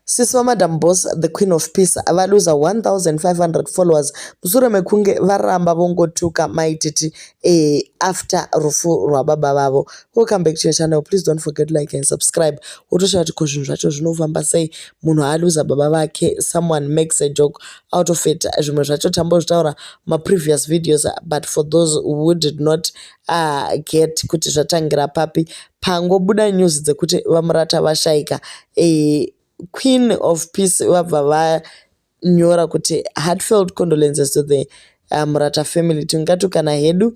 Sisi vaMadam Boss, the Queen of Peace, valuza 1500 followers mushure mekunge varamba vongotuka maititi eh, after rufu rwababa vavo. Welcome back to your channel. Please don't forget to like and subscribe. Wotoshaya kuti ko zvinhu zvacho zvinofamba sei munhu aluza baba vake someone makes a joke out of it. Zvimwe zvacho tambozvitaura maprevious videos but for those who did not Ah, get kuti zvatangira papi pangobuda news dzekuti vamurata vashaika eh, queen of peace vabva vanyora kuti heartfelt condolences to the uh, murata family tingatukana hedu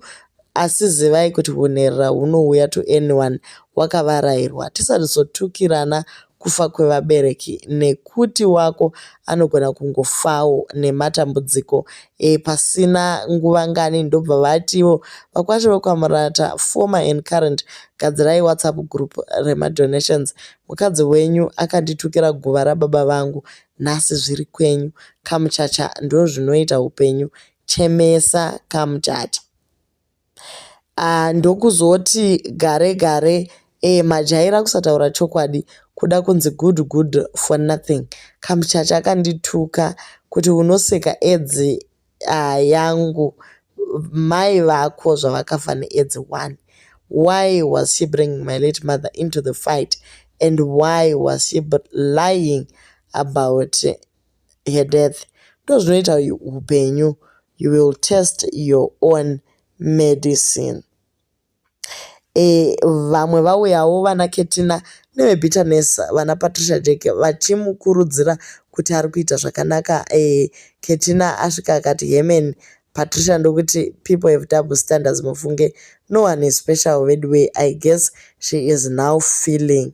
asi zivai kuti hunherera hunouya to anyone wakavarairwa tisatizotukirana kufa kwevabereki nekuti wako anogona kungofawo nematambudziko e, pasina nguva ngani ndobva vatiwo vakwasha vekwaMurata former and current gadzirai whatsapp group remadonations mukadzi wenyu akanditukira guva rababa vangu nhasi zviri kwenyu kamuchacha ndozvinoita upenyu chemesa kamuchacha ah, ndokuzoti gare gare e, majaira kusataura chokwadi kuda kunzi good good for nothing kamuchacha akandituka kuti unoseka edzi uh, yangu mai vako zvavakafa needzi one why was she bringing my late mother into the fight and why was she lying about her death ndozvinoita hupenyu you will test your own medicine e, vamwe vauyawo vana ketina nevebitterness vana patricia jack vachimukurudzira kuti ari kuita zvakanaka e, ketina asvika akati hemen patricia ndokuti people have double standards mufunge no one is special veduway i guess she is now feeling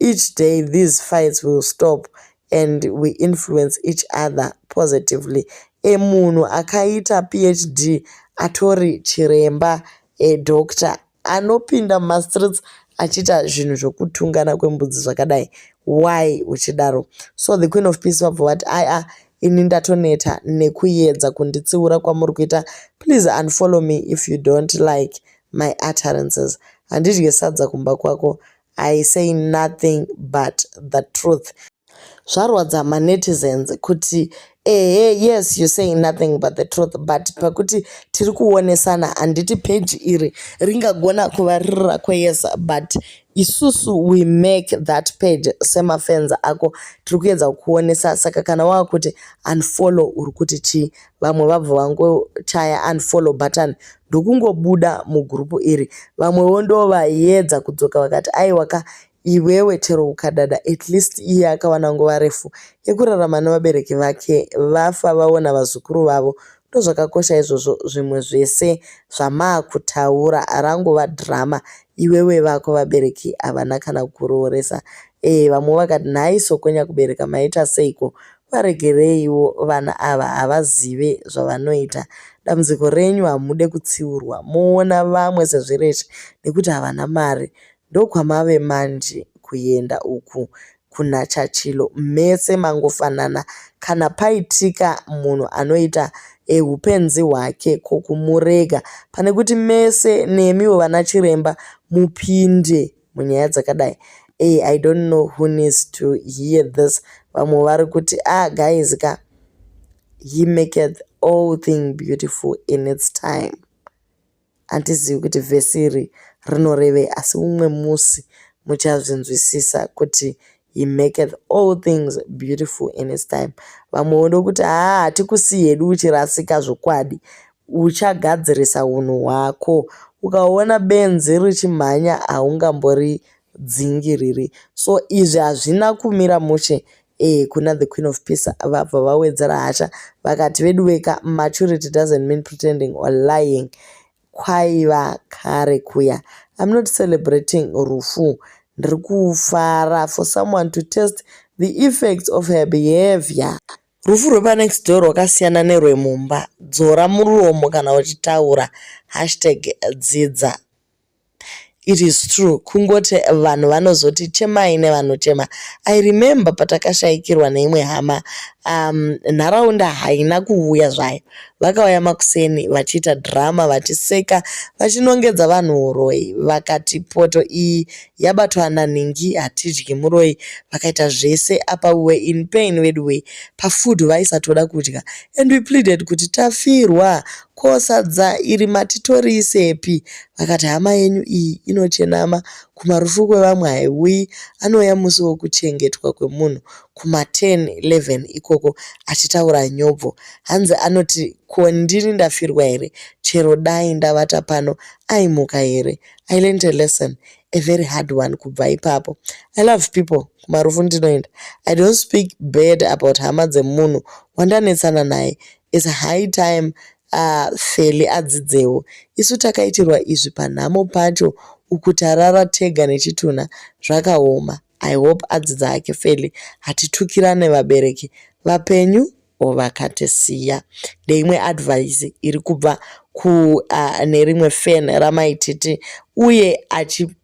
Each day these fights will stop and we influence each other positively. A munhu akaita PHD atori chiremba a doctor anopinda muma streets achiita zvinhu zvokutungana kwembudzi zvakadai why uchidaro so the queen of peace vabva vati aya ini ndatoneta nekuyedza kunditsiura kwamuri kuita please unfollow me if you don't like my utterances handidye sadza kumba kwako I say nothing but the truth. Zvarwadza ma netizens kuti ehe yes you say nothing but the truth but pakuti tiri kuonesana handiti page iri ringagona kuva riri rako yes but isusu we make that page semafans ako tiri kuedza kukuonesa saka kana wava kuti unfollow uri kuti chii vamwe vabva vangochaya unfollow button ndokungobuda mugroup iri vamwewo ndovaiedza kudzoka vakati aiwa ka iwewe chero ukadada at least iye akawana nguva refu yekurarama nevabereki vake vafa vaona vazukuru vavo ndozvakakosha izvozvo zvimwe zvese zvamaakutaura rangova drama iwewe vako vabereki havana kana kurooresa ee vamwe vakati nhai sokonya kubereka maita seiko Varegereiwo vana ava havazive zvavanoita. Dambudziko renyu hamude kutsiurwa moona vamwe sezvireshe nekuti havana mari. Ndokwamave manje kuenda uku kuna Chachilo mese mangofanana kana paitika munhu anoita e hupenzi hwake ko kumurega pane kuti mese nemiwo vana chiremba mupinde munyaya dzakadai hey, i don't know who needs to hear this vamwe vari kuti ah guys ka he maketh all thing beautiful in its time handizivi kuti vhesi iri rinorevei asi umwe musi muchazvinzwisisa kuti He maketh all things beautiful in his time. Vamwe voda kuti haa hatikusi hedu uchirasika zvokwadi. Uchagadzirisa hunhu hwako. Ukaona benzi richimhanya haungambori dzingiriri. So izvi hazvina kumira mushe eh, kuna the queen of peace vabva vawedzera hasha vakati veduweka maturity doesn't mean pretending or lying Kwaiva kare kuya. I'm not celebrating rufu. Ndiri kufara for someone to test the effects of her behavior. Rufu rwepanext door rwakasiyana nerwemumba. Dzora muromo kana uchitaura. Hashtag dzidza. It is true kungoti vanhu vanozoti chemai nevanochema. I remember patakashaikirwa neimwe hama um, nharaunda haina kuvuya zvayo. Vakauya makuseni vachiita drama vachiseka vachinongedza vanhu uroyi vakati poto iyi yabatwa nanhingi hatidyi muroyi vakaita zvese apa we were in pain veduwee pafood vaisatoda kudya and we pleaded kuti tafirwa Ko sadza iri mati toriisepi? Vakati, Hama yenyu iyi inochenama, kumarufu kwevamwe haiuyi. Anouya musi wokuchengetwa kwemunhu, kumaten, eleven ikoko, achitaura nyobvo. Hanzi anoti, Ko ndini ndafirwa here? Chero dai ndavata pano, aimuka here? I learnt a lesson, a very hard one kubva ipapo. I love people, kumarufu ndinoenda. I don't speak bad about hama dzemunhu wandanetsana naye. It's high time aah Felly adzidzewo. Isu takaitirwa izvi panhamo pacho uku tarara tega nechitunha zvakaoma. I hope adzidza hake Felly hatitukirane vabereki vapenyu or vakatisiya. Ndeimwe advice iri kubva kune rimwe fan ramai Titi uye achi.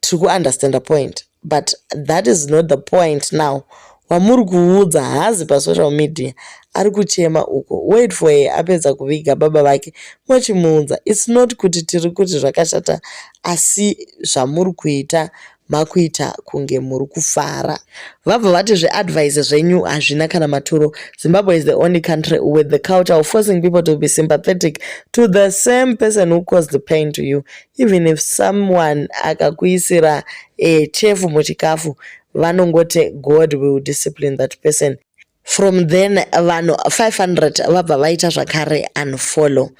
tiri kuunderstanda point but that is not the point now wamuri kuudza haazi pasocial media ari kuchema uko wait for her apedza kuviga baba vake mochimuudza its not kuti tiri kuti zvakashata asi zvamuri kuita makuita kunge muri kufara vabva vati zveadvise zvenyu hazvina kana maturo zimbabwe is the only country with the culture of forcing people to be sympathetic to the same person who caused the pain to you even if someone akakuisira eh, chefu muchikafu vanongoti god will discipline that person from then vanhu 500 vabva vaita zvakare unfollow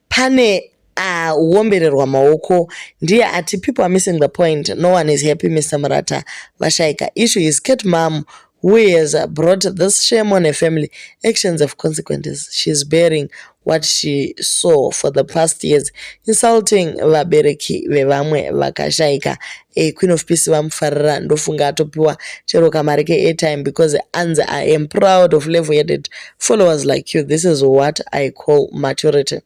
pane aombererwa uh, maoko ndiye ati people are missing the point no one is happy mr murata vashaika issue is cat mam who has brought this shame on her family actions have consequences she's bearing what she saw for the past years insulting vabereki vevamwe vakashaika e queen of peace vamufarira ndofunga atopiwa chero kamari keairtime because anzi i am proud of level headed followers like you this is what i call maturity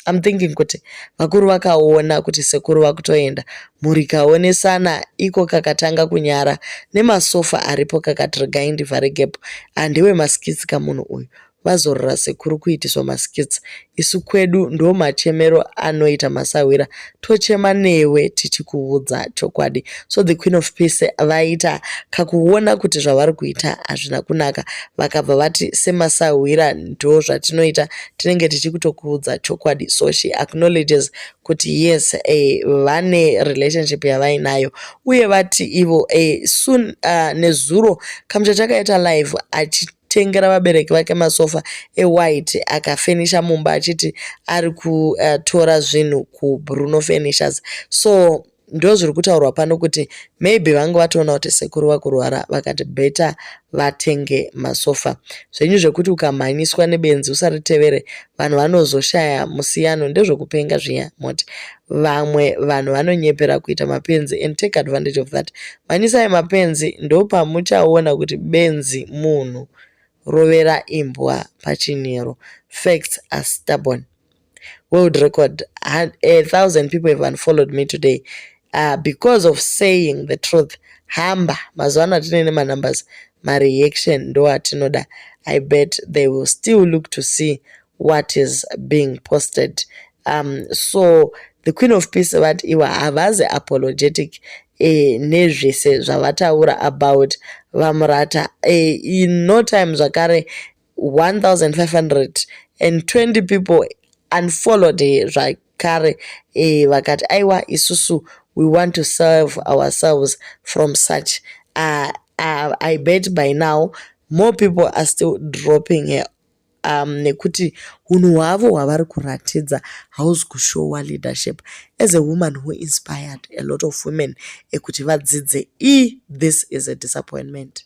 I'm thinking kuti vakuru vakaona kuti sekuru vakutoenda mhuri kaonesana iko kakatanga kunyara nemasofa aripo kakati regai ndivhare gap handiwe maskits kamunhu uyu vazorora sekuru kuitiswa maskits isu kwedu ndo machemero anoita masahwira tochema newe tichikuudza chokwadi so the queen of peace vaita kakuona kuti zvavari kuita hazvina kunaka vakabva vati semasahwira ndo zvatinoita tinenge tichikutokuudza chokwadi so she acknowledges kuti yes eh, vane relationship yavainayo uye vati ivo eh, soon uh, nezuro kamucha chakaita live achiti tengera vabereki vake masofa ewhite akafenisha mumba achiti ari kutora eh, zvinhu kubruno furnitures so ndo zviri kutaurwa pano kuti maybe vange vatoona kuti sekuru vakurwara vakati better vatenge masofa zvenyu zvekuti ukamhanyiswa nebenzi usaritevere vanhu vanozoshaya musiyano ndezvekupenga zviya moti Vamwe vanhu vanonyepera kuita mapenzi and take advantage of that. Manyisai mapenzi ndopamuchaona kuti benzi munhu. Rovera imbwa pachinyero. Facts are stubborn. World record. A thousand people have unfollowed me today uh, because of saying the truth. Hamba. Mazuva ano atine nemanumbers. Mareaction ndoatinoda. I bet they will still look to see what is being posted um, so the queen of peace vati ivo havazi apologetic e, nezvese zvavataura about vamurata e, in no time zvakare 1520 people unfollowed her zvakare e, vakati aiwa isusu we want to serve ourselves from such uh, uh, i bet by now more people are still dropping her um, nekuti hunhu hwavo hwavari kuratidza hausi kushowa leadership as a woman who inspired a lot of women ekuti vadzidze e this is a disappointment